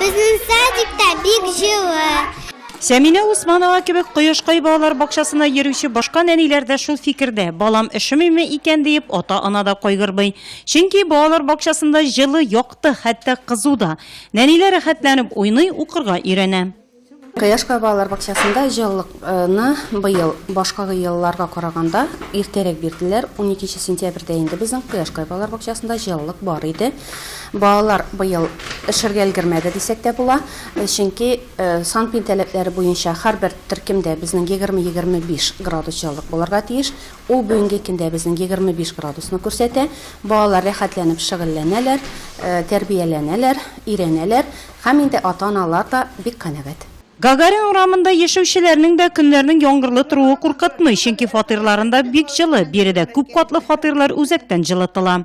Безнең садикта бик җылы. Сәминә Усманова кебек Кояшкай балалар бакчасына йөрүче башка нәниләр дә шул фикердә. Балам өшемиме икән диеп, ата-ана да кайгырмый. Чөнки балалар бакчасында җылы, якты, хәтта кызу да. Нәниләр рәхәтләнеп уйный, укырга өйрәнә. Кояш балалар бакчасында җылылыкны быел башка елларга караганда иртәрәк бирделәр. 12 сентябрьдә инде безнең Кояш балалар бакчасында җылылык бар иде. Балалар быел эшергә өлгермәде дисәк тә була, чөнки санпин таләпләре буенча һәрбер төркемдә безнең 20-25 градус җылылык булырга тиеш. Ул бүгенге көндә безнең 25 градусны күрсәтә. Балалар рәхәтләнеп шөгыльләнәләр, тәрбияләнәләр, өйрәнәләр. Һәм инде ата-аналар да бик канәгать. Гагарин урамында яшәүчеләрнең дә көннәрнең яңгырлы торуы куркытмый, чөнки фатирларында бик җылы, биредә күп катлы фатирлар үзәктән җылытыла.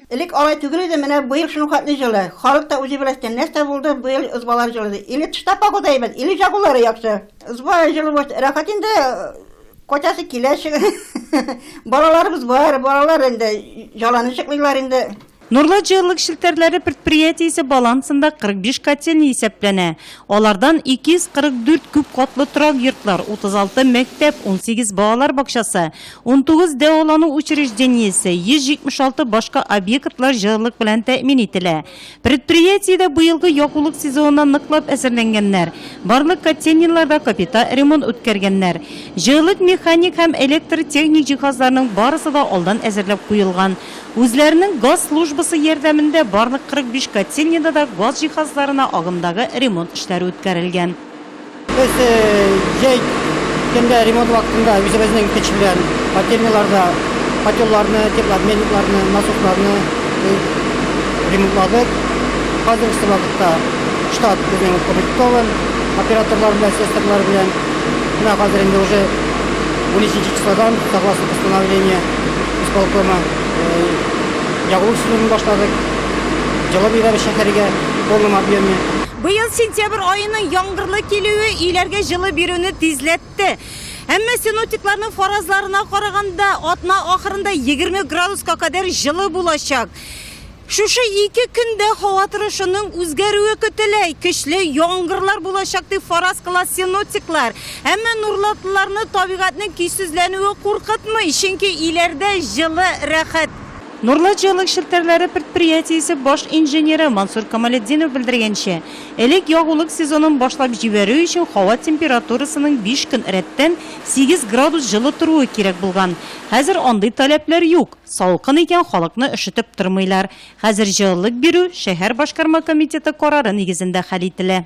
Элек алай түгел иде, менә быел шулхәтле җылы. Халык та үзе беләчтен, нәрсә булды, быел ызбалар җылыды. Или тышта погода әйбәт, или җагулары яхшы. Ызба җылы булса, рәхәт инде, качасы килә чыга. Балаларыбыз бар, балалар инде җаланы җыклыйлар инде. Нурлы җылылык челтәрләре предприятиесе балансында 45 котельня исәпләнә. Алардан 244 күп катлы торак йортлар, 36 мәктәп, 18 балалар бакчасы, 19 дәвалану учреждениесе, 176 башка объектлар җылылык белән тәэмин ителә. Предприятиедә быелгы ягулык сезонына ныклап әзерләнгәннәр, барлык котельняларда капита ремонт үткәргәннәр. Җылылык механик һәм электротехник җиһазларның барысы да алдан әзерләп куелган. Үзләренең газ службасы ярдәмендә барлык 45 котельняда да газ җиһазларына агымдагы ремонт эшләре үткәрелгән. Без җәй көндә ремонт вакытында үзебезнең көч белән котельняларда котелларны, теплообменникларны, насосларны ремонтладык. Хәзерге вакытта штат безнең укомплектован, операторлар белән, слесарьлар белән. Менә хәзер инде уже унөченче числодан согласно постановлению Исполкомы ягулык сезонын башладык. Җылы бирәбез шәһәргә в полном объеме. Быел сентябрь аеның яңгырлы килүе өйләргә җылы бирүне тизләтте. Әмма синоптикларның фаразларына караганда, атна ахырында егерме градуска кадәр җылы булачак. Шушы ике көндә һава торышының үзгәрүе көтелә. Көчле яңгырлар булачак дип фараз кыла синоптиклар. Әмма нурлатлыларны табигатьнең көйсезләнүе куркытмый, чөнки иләрдә җылы, рәхәт. Нурлат җылылык челтәрләре предприятиесе баш инженеры Мансур Камалетдинов белдергәнчә, элек ягулык сезонын башлап җибәрү өчен һава температурасының биш көн рәттән сигез градус җылы торуы кирәк булган. Хәзер андый таләпләр юк. Салкын икән, халыкны өшетеп тормыйлар. Хәзер җылылык бирү шәһәр башкарма комитеты карары нигезендә хәл ителә.